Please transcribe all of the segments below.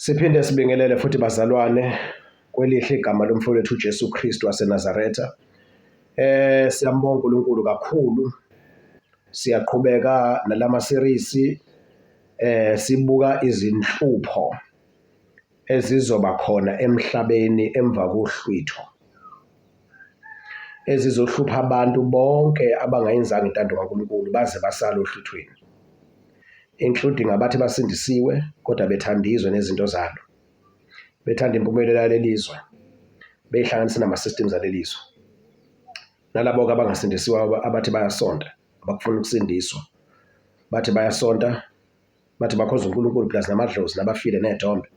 Siphinde sibingelele futhi bazalwane kwelihle igama lomfowethu uJesu Kristu waseNazaretha. Eh siyambonga uNkulunkulu kakhulu. Siyaqhubeka nalama series eh sibuka izinhlupho ezizoba khona emhlabeni emva kohlwitho. ezizohlupha abantu bonke abangayenzanga intando kaNkulunkulu baze basale ohluthweni including abathi basindisiwe kodwa bethanda izwe nezinto zalo bethanda impumelelo yaleli zwe beyihlanganise nama-systems aleli zwe nalabo-ke abangasindisiwe abathi bayasonta abakufuna ukusindiswa bathi bayasonta bathi bakhonza uNkulunkulu plus namadlozi nabafile ney'thombe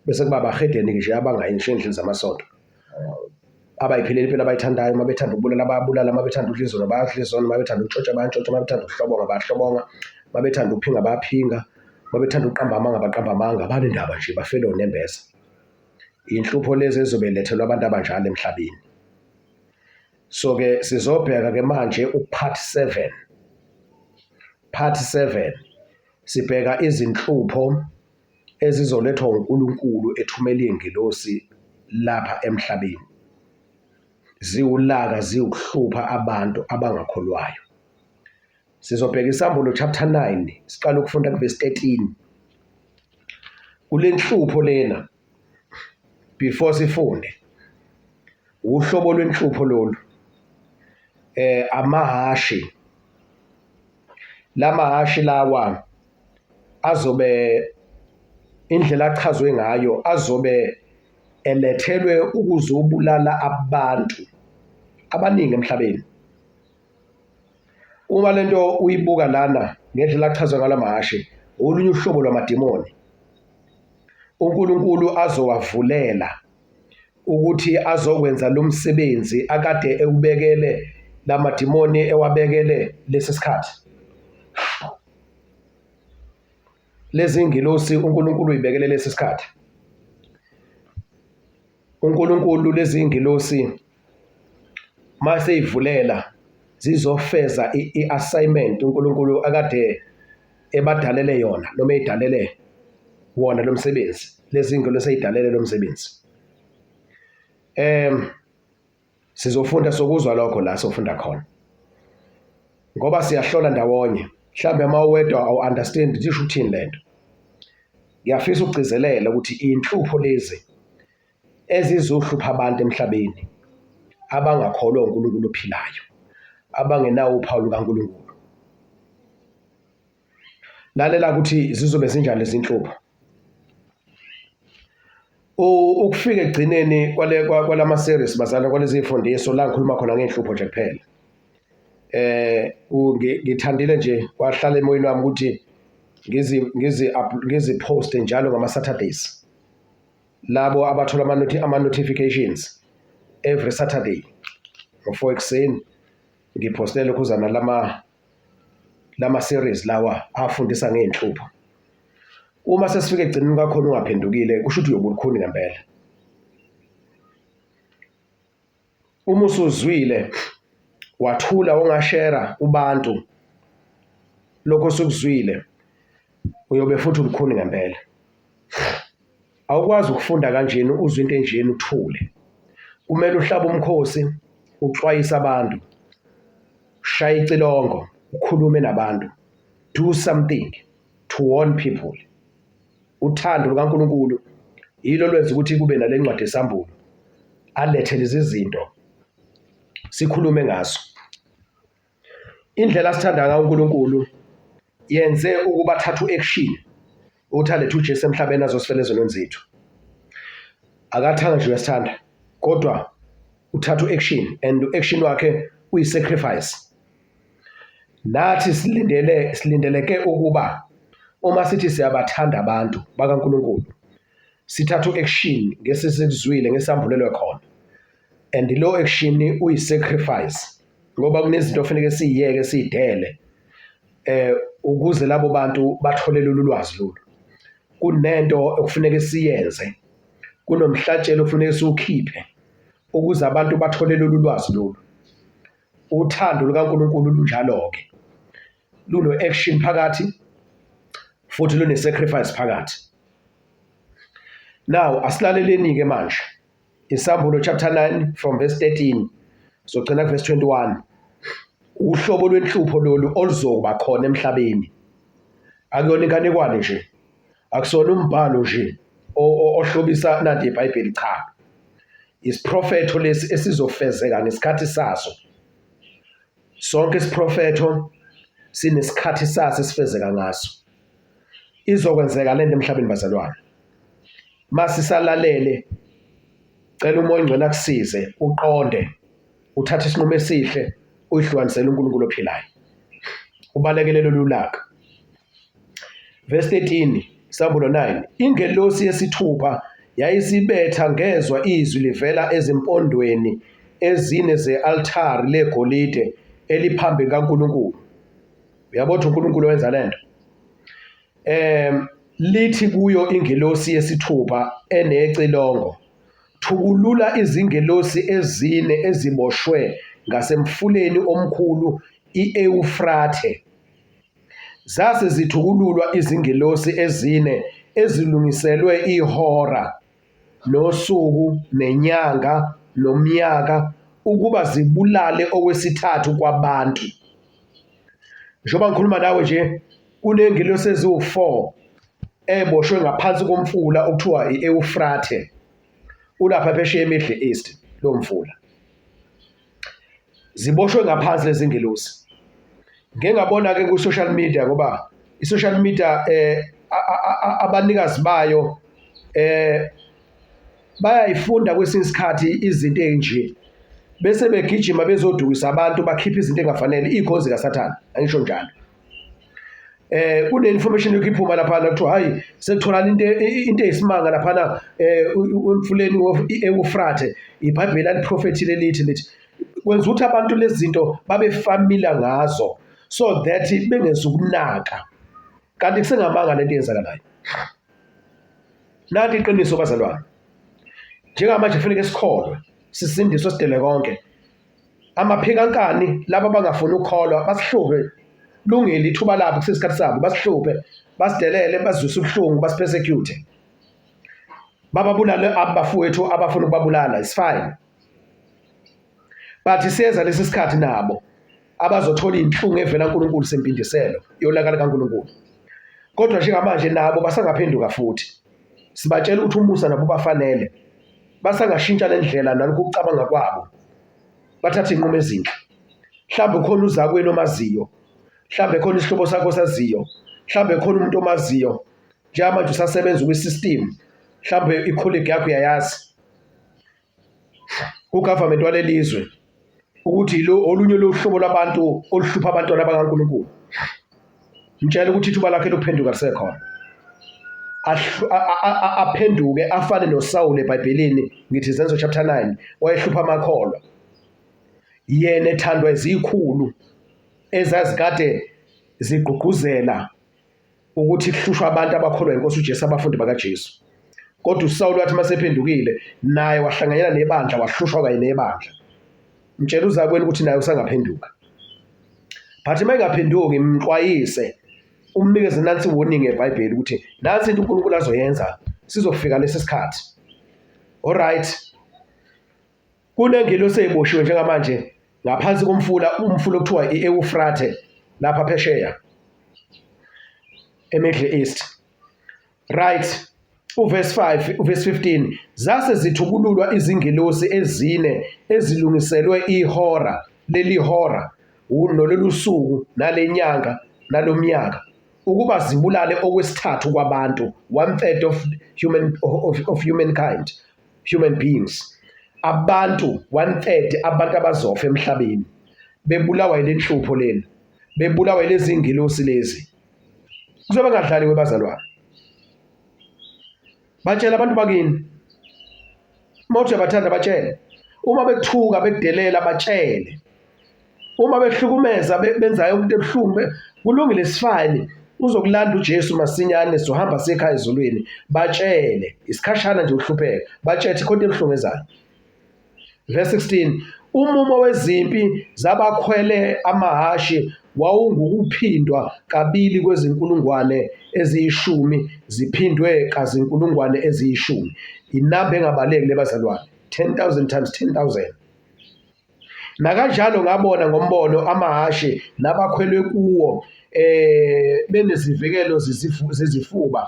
bese kuba abahedeni nje abangayi ngisho endlini zamasonto abayipheleli impilo abayithandayo uma bethanda ukubulala bayabulala uma bethanda udla izono bayadla izono uma bethanda ukutshotsha bayantshontsha uma bethanda ukuhlobonga bayahlobonga uma bethanda ukuphinga bayaphinga uma bethanda ukuqamba amanga baqamba amanga abanendaba nje bafele onembeza inhlupho lezi ezobe lethelwa abantu abanjalo emhlabeni so ke sizobheka ke manje upart 7 part 7 sibheka izinhlupho ezizolethwa uNkulunkulu ethumela izingelosi lapha emhlabeni ziwulaka ziwukuhlupha abantu abangakholwayo sizobheka isambolo chapter 9 siqala ukufunda kuverse 13 kulenhlupho lena before sifunde uhlobo lwenhlupho lolu eh amahashi lamahashi lawa azobe indlela achazwe ngayo azobe elethelwe ukuzobulala abantu abaningi emhlabeni uma lento uyibuka lana ngendlela achazwe ngala mahhashi olunye uhlobo lwamadimoni uNkulunkulu azowavulela ukuthi azokwenza lo msebenzi akade ewubekele la madimoni ewabekele lesi sikhathi lezi ngilosi uNkulunkulu uyibekele lesi sikhathi uNkulunkulu lezi ngilosi mase ivulela zizofeza i-assignment uNkulunkulu akade ebadalele yona noma edalele wona lo msebenzi lezindlu leseyidalele lo msebenzi em sizofunda sokuzwa lokho la sofunda khona ngoba siyahlola ndawonye mhlawumbe uma uwedwa awu-understand ukuthi isho ukuthini le nto ngiyafisa ukugcizelela ukuthi inhlupho lezi ezizohlupha abantu emhlabeni abangakholwa uNkulunkulu ophilayo abangenawo uphawu lukaNkulunkulu lalela ukuthi zizobe zinjani izinhlobo ukufika egcineni kwale kwalama series bazana kwalezi ifundiso la ngikhuluma khona ngenhlupho nje kuphela eh ngithandile nje kwahlala emoyeni wami ukuthi ngizi ngizi ngizi post njalo ngama Saturdays labo abathola ama-notifications every Saturday ngo-four ekuseni ngiphoste lokhuzana lama lama series lawa afundisa ngey'nhlupho uma sesifike egcineni kwakhona ungaphendukile kusho ukuthi uyobulukhuni ngempela uma usuzwile wathula ongashera kubantu lokho osukuzwile uyobe futhi umkhuni ngempela awukwazi ukufunda kanjena uzwe into enjena uthule kumele uhlaba umkhosi uxwayise abantu shaya icilongo ukhulume nabantu do something to warn people Uthando lukaNkulunkulu yilo lwenza ukuthi kube nale ncwadi esambulu alethe lezi zinto sikhulume ngaso. Indlela sithanda ngayo uNkulunkulu yenze ukuba thathu action ukuthi alethe uJesu emhlabeni azosifela ezonweni zethu. Akathanga nje uyasithanda kodwa uthatha u-action and u-action wakhe uyi-sacrifice Nathi silindele silindeleke ukuba uma sithi siyabathanda abantu bakaNkulunkulu sithatha u-action ngesesikuzwile ngesambulelwe khona and lo action uyi-sacrifice ngoba kunezinto ofanele siyiyeke siyidele eh ukuze labo bantu bathole lolu lwazi lolu kunento okufuneka siyenze kunomhlatshelo okufuneka siwukhiphe ukuze abantu bathole lolu lwazi lolu Uthando lukaNkulunkulu lunjalo-ke, luno-action phakathi futhi lune-sacrifice phakathi. Now asilaleleni-ke manje Isahlulo chapter 9 from verse 13 sogcina kuverse 21 uhlobo lwenhlupho lolu oluzoba khona emhlabeni akuyona inganekwane nje akusona umbhalo nje ohlobisa nanti iBhayibheli cha isiprofetho lesi esizofezeka ngesikhathi saso sonke isiprofetho sinesikhathi saso esifezeka ngaso izokwenzeka lento emhlabeni bazalwane masisalalele cela umoya ongcwele akusize uqonde uthathe isinqumo esihle uyihlukanisele uNkulunkulu ophilayo ubalekele lolu laka Verse 13, Isabulo 9. Ingelosi yesithupha yayisibetha ngezwa izwi livela ezimpondweni ezine ze-altari legolide eliphambi kaNkulunkulu. Uyabo ukuthi uNkulunkulu wenza le nto. Um lithi kuyo ingelosi yesithupha enecilongo, thukulula izingelosi ezine eziboshwe ngasemfuleni omkhulu i-Ewufrathe. Zase zithukululwa izingelosi ezine ezilungiselwe ihora, nosuku, nenyanga, nomnyaka, ukuba zibulale okwesithathu kwabantu. Njengoba ngikhuluma nawe nje, kunengelosi eziwu-four eboshwe ngaphansi komfula okuthiwa i-Ewufrathe, ulapha phesheya eMiddle East lo mfula. ziboshwe ngaphansi lezingelosi ngeke ngabona ke ku social media ngoba i social media eh abanikazi bayo eh bayayifunda kwesinye isikhathi izinto ezinje bese begijima bezodukisa abantu bakhipha izinto engafanele ikhonzi kaSathane angisho njalo eh kune information yokuphuma lapha na kuthiwa hayi sekutholana into into eyisimanga lapha na eh umfuleni weEufrate iBhayibheli aliprofethi lelithi lithi kwenza ukuthi abantu lezi zinto babe familiar ngazo so that bengezukunaka kanti kusengamanga lento eyenzakalayo nanti iqiniso bazalwane njengamanje kufanele sikholwe sisindiswe sidele konke amaphikankani laba abangafuni ukukholwa basihluphe lungile ithuba labo kusesikhathi sabo basihluphe basidelele bazwise ubuhlungu basipersecute bababulale abafowethu abafuna ukubabulala is fine but siyeza lesi sikhathi nabo abazothola inhlungu evela uNkulunkulu sempindiselo yolaka likaNkulunkulu kodwa njengamanje nabo basangaphenduka futhi sibatshela ukuthi umusa nabo bafanele basangashintsha le ndlela nalokhu ukucabanga kwabo bathathe iy'nqumo ezinhle mhlawumbe khona uzakwenu omaziyo mhlawumbe khona isihlobo sakho osaziyo mhlawumbe khona umuntu omaziyo njengamanje usasebenza kwi-system mhlawumbe ikholigi yakho uyayazi ugovernment walelizwe ukuthi lo olunye lohlobo lwabantu oluhlupha abantwana bakaNkulunkulu mtshela ukuthi ithuba lakhe lokuphenduka lisekhona aphenduke afane noSawule eBhayibhelini ngithi Izenzo chapter 9 wayehlupha amakholwa yena ethandwa izikhulu ezazikade zigqugquzela ukuthi kuhlushwa abantu abakholwa inkosi uJesu abafundi bakaJesu kodwa uSawulu wathi masephendukile naye wahlanganyela nebandla wahlushwa kanye nebandla mtshela uzakweni ukuthi naye usangaphenduka but uma engaphenduki mxwayise umnikeze nansi warning eBhayibheli ukuthi nansi into uNkulunkulu azoyenza sizofika lesi sikhathi all right Kunengelosi eboshiwe njengamanje ngaphansi komfula umfula okuthiwa i-Ewufrathe lapha phesheya eMiddle East. Right. Uverse 5, uverse 15 zase zithukululwa izingelosi ezine ezilungiselwe ihora leli hora nololu suku nalenyanga nalomnyaka ukuba zibulale okwesithathu kwabantu one third of human of, of humankind human beings abantu one third abantu abazofa emhlabeni bebulawa yile nhlupho lena bebulawa yilezi ngilosi lezi kuzobe ngadlaliwe bazalwane batshela abantu bakini uma uthi uyabathanda batshele uma bekuthuka bekudelela batshele uma behlukumeza benza yonke into ebuhlungu kulungile sifayini uzokulanda uJesu masinyane sohamba sekhaya ezulwini batshele isikhashana nje uhlupheka batshethe khona ebuhlungu ezayo verse 16 umumo wezimpi zabakhwele amahashi wawungukuphindwa kabili kwezinkulungwane eziyishumi ziphindwe kazinkulungwane eziyishumi inamba engabaleki lebazalwane 10000 times 10000 Nakanjalo ngabona ngombono amahhashi nabakhwelwe kuwo eh benezivikelo zezifuba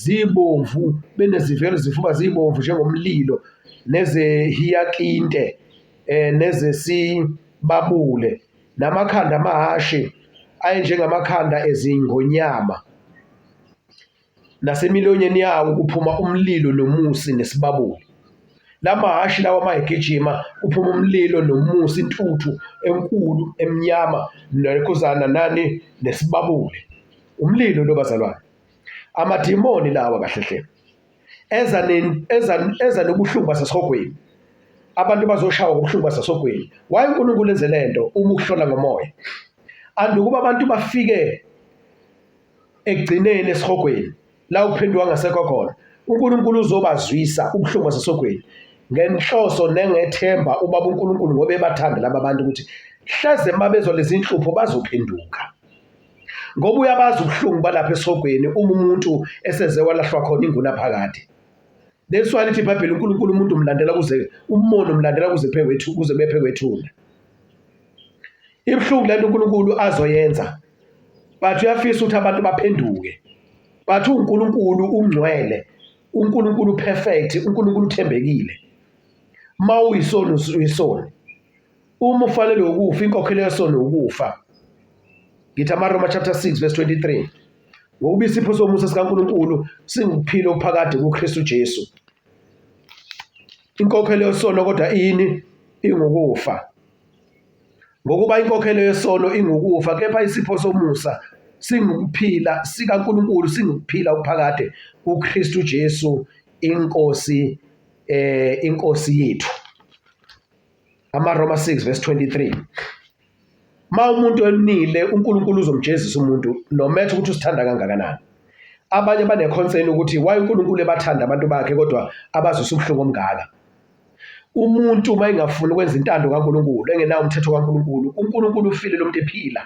zibomvu benezivikelo zezifuba zibomvu njengomlilo nezehiyakinte eh nezesibabule namakhanda amahhashi ayenjengamakhanda ezingonyama. nasemilonyeni yawo kuphuma umlilo nomusi nesibabuli lamahhashi lawa uma egijima kuphuma umlilo nomusi intuthu enkulu emnyama nekhuzana nani nesibabuli umlilo lo bazalwane amadimoni lawa kahle hle eza eza eza nobuhlungu basesihogweni abantu bazoshawa ngobuhlungu basesihogweni waye uNkulunkulu enze lento uma ukuhlola ngomoya andukuba abantu bafike ekugcineni esihogweni la uphenduka ngasekho khona uNkulunkulu uzobazwisa ubuhlungu basesogweni ngenhloso nengethemba ubaba uNkulunkulu ngoba ebathanda laba bantu ukuthi hleze uma bezwa lezi nhlupho bazophenduka ngoba uyabazi ubuhlungu balapha esihogweni uma umuntu eseze walahlwa khona inguna phakade That's why lithi iBhayibheli uNkulunkulu umuntu umlandela kuze umona umlandela kuze phekwethu kuze bephekwethuna. ibuhlungu lento uNkulunkulu azoyenza but uyafisa ukuthi abantu baphenduke but uNkulunkulu ungcwele uNkulunkulu perfect uNkulunkulu uthembekile uma uyisoni uyisoni uma ufanele ukufa inkokhelo yesoni ukufa ngithi amaRoma chapter 6 verse 23 ngokuba isipho somusa sikaNkulunkulu singukuphila okuphakade kuKristu Jesu inkokhelo yesono kodwa ini ingukufa Ngokuba inkokhelo yesono ingukufa, kepha isipho somusa singukuphila sikaNkulunkulu, singukuphila okuphakade kuKristu Jesu inkosi eh inkosi yethu. AmaRoma 6 verse 23. Ma umuntu enile uNkulunkulu uzomjezisa umuntu no matter ukuthi usithanda kangakanani. Abanye baneconcern ukuthi why uNkulunkulu ebathanda abantu bakhe kodwa abazisa ubuhlungu omngaka. umuntu uma engafuni ukwenza intando kaNkulunkulu engenawo umthetho kaNkulunkulu uNkulunkulu ufile lo muntu ephila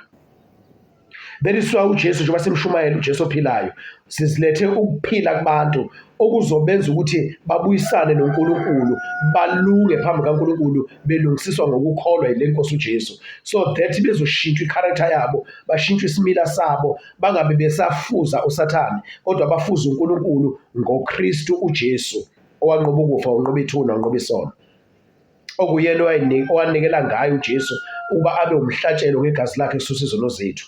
beliswa uJesu njengoba simshumayela uJesu ophilayo sizilethe ukuphila kubantu okuzobenza ukuthi babuyisane noNkulunkulu balunge phambi kaNkulunkulu belungisiswa ngokukholwa yile Nkosi uJesu so that bezoshintshwa icharacter yabo bashintshwe isimila sabo bangabe besafuza uSathane kodwa bafuza uNkulunkulu ngoKristu uJesu owanqoba ukufa wanqoba ithuna wanqoba isono okuyena owanikela ngayo uJesu ukuba abe umhlatshelo ngegazi lakhe kususa izono zethu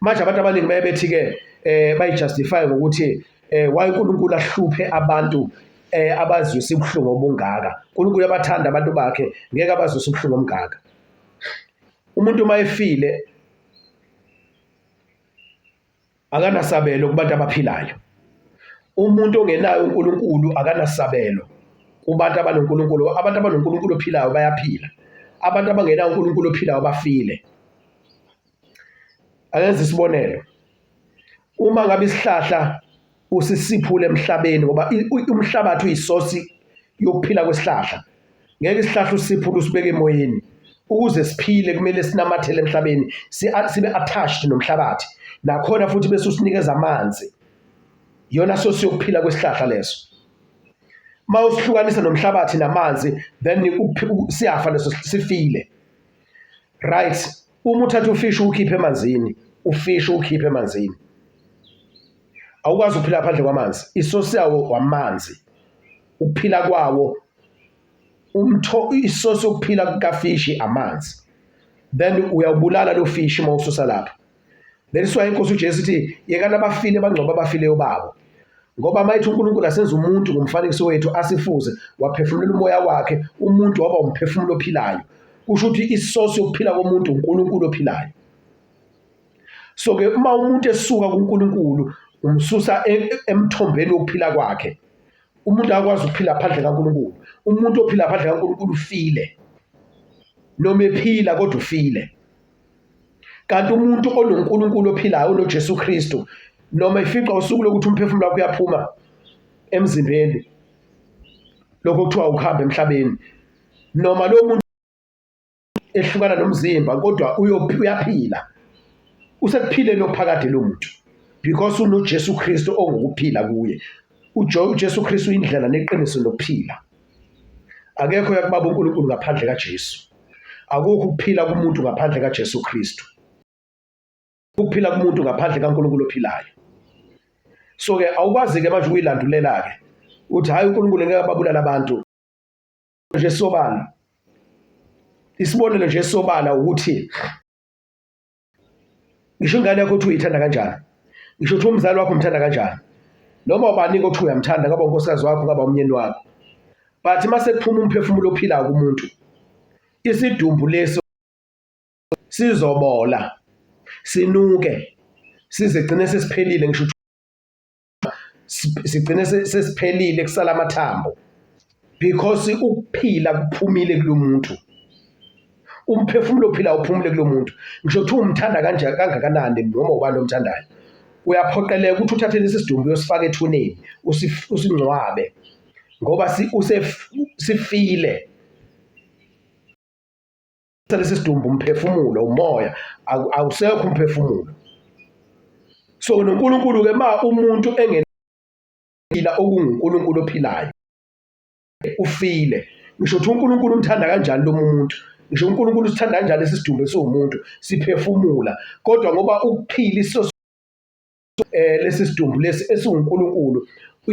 manje abantu abaningi baye bethi-ke um eh, bayijustify ngokuthi um eh, waye unkulunkulu ahluphe abantu eh abazwisa ubuhlungu obungaka uNkulunkulu uyabathanda abantu bakhe ngeke abazwisa ubuhlungu omngaka umuntu uma efile akanasabelo kubantu abaphilayo. Umuntu ongenaye uNkulunkulu akanasabelo kubantu abanoNkulunkulu. Abantu abanoNkulunkulu ophilayo bayaphila. Abantu abangenaye uNkulunkulu ophilayo bafile. Akenze isibonelo. Uma ngabe isihlahla usisiphule emhlabeni ngoba umhlabathi uyisosi yokuphila kwesihlahla ngeke isihlahla usiphule usibeke emoyeni ukuze siphile kumele sinamathele emhlabeni sibe attached nomhlabathi nakhona futhi bese usinikeza amanzi yona sosi yokuphila kwesihlahla leso uma usihlukanisa nomhlabathi namanzi then siyafa leso sifile right uma uthatha ufishi ukhiphe emanzini ufishi ukhiphe emanzini awukwazi ukuphila phandle kwamanzi isosi yawo wamanzi ukuphila kwawo umtho isosi yokuphila kukafishi amanzi then uyawubulala lo fishi uma ususa lapha Beliswa inkosi uJesu ithi yekani abafile bangcwaba abafileyo babo. Ngoba mayithi uNkulunkulu asenza umuntu ngomfanekiso wethu asifuze waphefumulela umoya wakhe umuntu waba umphefumulo ophilayo. Kusho ukuthi isource yokuphila komuntu uNkulunkulu ophilayo. So ke uma umuntu esuka kuNkulunkulu umsusa e-, emthombeni wokuphila kwakhe. Umuntu akakwazi ukuphila phandle kaNkulunkulu. Umuntu ophila phandle kaNkulunkulu ufile. Noma ephila kodwa ufile. kanti umuntu onoNkulunkulu ophilayo unoJesu Kristu noma ifica usuku lokuthi umphefumulo wakho uyaphuma emzimbeni lokho kuthiwa ukuhamba emhlabeni noma lo muntu ehlukana nomzimba kodwa uyaphila usekuphileni ophakade lo muntu because unoJesu Kristu ongukuphila kuye uJesu Kristu indlela neqiniso nokuphila akekho yakubaba uNkulunkulu ngaphandle kaJesu akukho ukuphila kumuntu ngaphandle kaJesu Kristu ukuphila kumuntu ngaphandle kaNkulunkulu ophilayo so ke awukwazi ke manje ukuyilandulela ke uthi hayi uNkulunkulu ngeke ababulala abantu nje sobala isibonelo nje sobala ukuthi ngisho ingane yakho ukuthi uyithanda kanjani ngisho ukuthi umzali wakho umthanda kanjani noma ubaningi othi uyamthanda ngaba unkosikazi wakho ngaba umnyeni wakho but uma sekuphuma umphefumulo ophilayo kumuntu isidumbu leso sizobola sinuke sizigcine sesiphelile ngisho sigcine sesiphelile kusala amathambo because ukuphila kuphumile kulomuntu umphefumulo ophila uphumule kulomuntu ngisho ukuthi umthanda kanje kangakanani noma ubani omthandayo uyaphoqeleka ukuthi uthathe lesi sidumbu uyosifaka ethuneni usingcwabe ngoba usefile lesi sidumbu umphefumulo umoya awusekho umphefumulo so noNkulunkulu ke ma umuntu engenila okunguNkulunkulu ophilayo ufile ngisho ukuthi uNkulunkulu umthanda kanjani lo muntu ngisho uNkulunkulu usithanda kanjani lesi sidumbu esiwumuntu siphefumula kodwa ngoba ukuphila iso eh lesi sidumbu lesi esinguNkulunkulu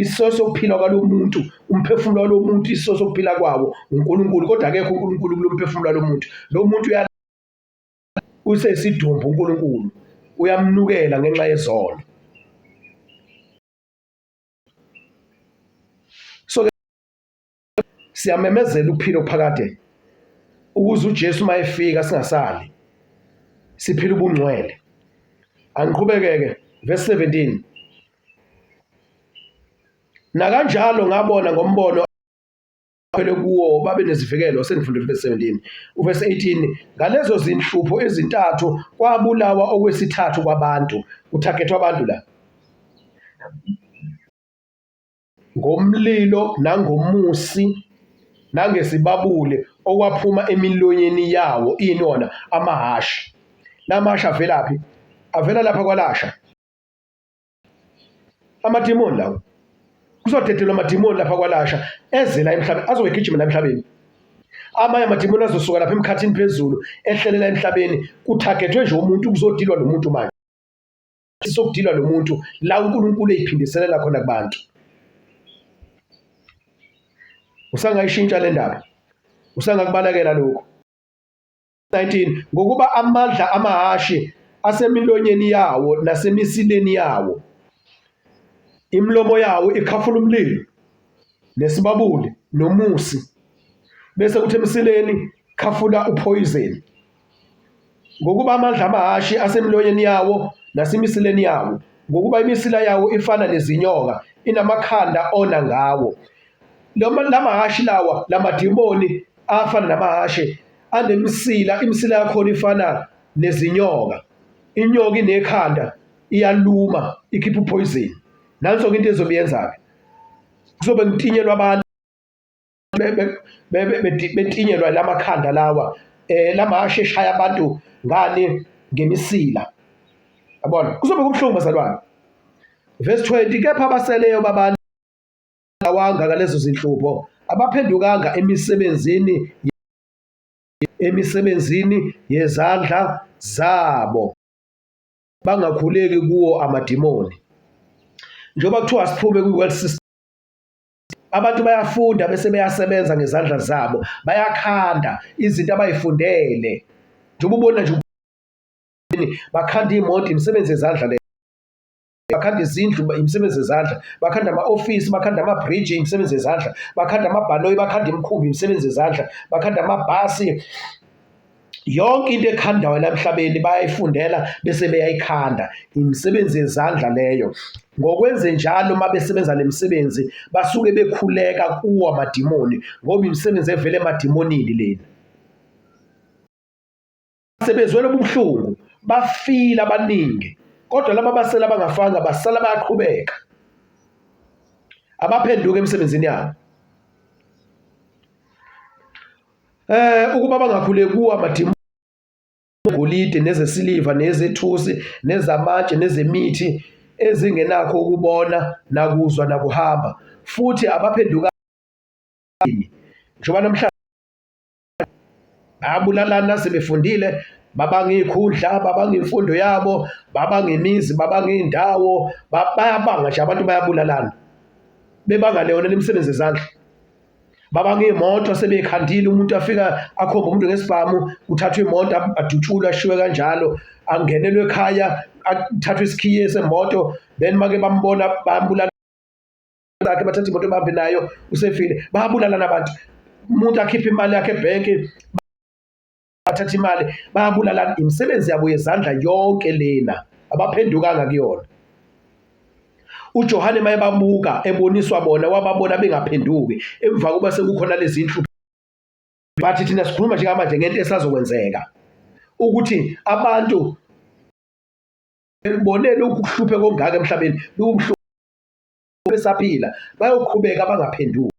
isiso sokuphila kwalomuntu umphefumulo walomuntu isiso sokuphila kwawo uNkulunkulu kodwa akekho uNkulunkulu kulomphefumulo walomuntu lo muntu uya usesidumbu uNkulunkulu uyamnukela ngenxa yezono siyamemezela ukuphila okuphakade ukuze uJesu uma efika singasali siphila ubungcwele angiqhubekeke verse 17 nakanjalo ngabona ngombono phele kuwo babe nezivikelo sengifundile verse 17 uverse 18 ngalezo zinhlupho ezintathu kwabulawa okwesithathu kwabantu kuthagetwa abantu la ngomlilo nangomusi nangesibabule okwaphuma emilonyeni yawo ini wona amahhashi la mahhashi avelaphi avela lapha kwalasha amadimoni lawo kuzodedelwa amadimoni lapha kwalasha eze la emhlabeni azowegijima la emhlabeni amanye amadimoni azosuka lapha emkhathini phezulu ehlelela emhlabeni kuthagethwe nje umuntu kuzodilwa lo muntu manje sokudilwa lo muntu la uNkulunkulu eyiphindiselela khona kubantu usangayishintsha le ndaba usangakubalekela lokhu 19 ngokuba amandla amahashi asemilonyeni yawo nasemisileni yawo imilomo yawo ikhafula umlilo nesibabuli nomusi bese kuthi emsileni khafula uphoyizeni ngokuba amandla amahhashi asemilonyeni yawo nasemisileni yawo, ngokuba imisila yawo ifana nezinyoka, inamakhanda ona ngawo. Lama- La mahhashi lawa, la madimoni afana namahhashi, anemisila, imisila yakhona ifana nezinyoka. Inyoka inekhanda, iyaluma, ikhipha uphoyizini. Nanso-ke into ezobe yenza-ke. Kuzobe kutinyelwa abantu. betinyelwa la makhanda lawa um eh, la mahashi eshaya abantu ngani ngemisila yabona kuzobe kubuhlungu bazalwane verse 20 kepha abaseleyo babantu awanga ngalezo zinhlupho abaphendukanga emisebenzini emisebenzini yezandla zabo bangakhuleki kuwo amadimoni njengoba kuthiwa siphume kwi-world system Abantu bayafunda bese beyasebenza ngezandla zabo, bayakhanda izinto abay'fundele. Njengoba ubona nje bakhanda iy'moto, imisebenzi yezandla le. Bakhanda izindlu, imisebenzi yezandla. Bakhanda ama-ofisi, bakhanda ama-bridge, imisebenzi yezandla. Bakhanda amabhanoyi, bakhanda imikhumbi, imisebenzi yezandla. Bakhanda amabhasi. yonke into ekhandayo la emhlabeni bayayifundela bese beyayikhanda imisebenzi yezandla leyo ngokwenze njalo uma besebenza le misebenzi basuke bekhuleka kuwo amadimoni ngoba imisebenzi evele emadimonini lena sebezwela ubuhlungu bafile abaningi kodwa laba basela abangafanga basala bayaqhubeka abaphenduke emsebenzini yabo Eh ukuba bangakhule kuwa madimoni golide nezesiliva nezethusi nezamatshe nezemithi ezingenakho ukubona nakuzwa nakuhamba futhi abaphenduka njengoba namhlanje bayabulalana sebefundile babanga iy'khundla babanga imfundo yabo babanga imizi babanga iy'ndawo bayabanga nje abantu bayabulalana bebanga leyona imisebenzi yezandla baba ngemoto sebekhandile umuntu afika akhomba umuntu ngesibhamu kuthathwa imoto adutshulwe ashiwe kanjalo angenelwe ekhaya athathwe isikhiye semoto then make bambona bambulala sakhe bathatha imoto bahambe nayo usefile babulalana abantu umuntu akhiphe imali yakhe ebhenki bathatha imali bayabulalana imisebenzi yabo yezandla yonke lena abaphendukanga kuyona uJohane maye bamuka eboniswa bona wababona bengaphenduki emva kokuba sekukhona lezi nhlu bathi thina sikhuluma njengamanje ngento esazokwenzeka ukuthi abantu bonele ukuhluphe kongaka emhlabeni lubuhlungu besaphila bayoqhubeka bangaphenduki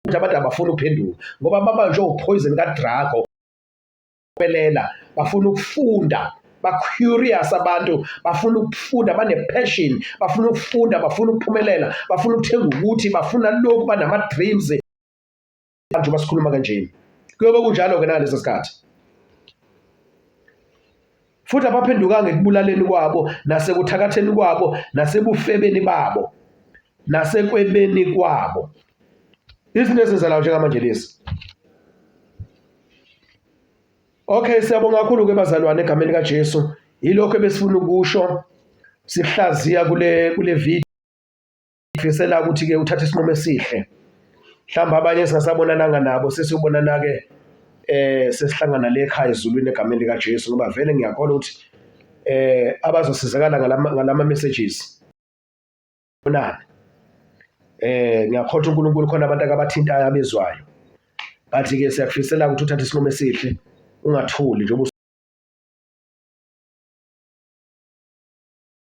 ukuthi abantu abafuni ukuphenduka ngoba babanjwe uphoyizeni kadrago belela bafuna ukufunda ba-curious abantu bafuna ukufunda bane-passion bafuna ukufunda bafuna ukuphumelela bafuna ukuthenga ukuthi bafuna lokhu banama-dreams abantu basikhuluma kanjeni kuyobe kunjalo-ke nangaleso sikhathi futhi abaphendukanga ekubulaleni kwabo nasekuthakatheni kwabo nasebufebeni babo nasekwebeni kwabo izinto ezenzalayo njengamanje lezi okay siyabonga kakhulu ke bazalwane egameni likaJesu yilokho ebesifuna ukusho sihlaziya kule kule video ngifisela ukuthi ke uthathe isinqumo esihle mhlawumbe abanye esingasabonananga nabo sesiyobonana-ke eh sesihlangana le ekhaya ezulwini egameni likaJesu ngoba vele ngiyakholwa ukuthi eh abazosizakala ngalama ngalama messages bonana eh ngiyakholwa uNkulunkulu khona abantu akabathintayo abezwayo bathi ke siyakufisela ukuthi uthathe isinqumo esihle ungathuli njengoba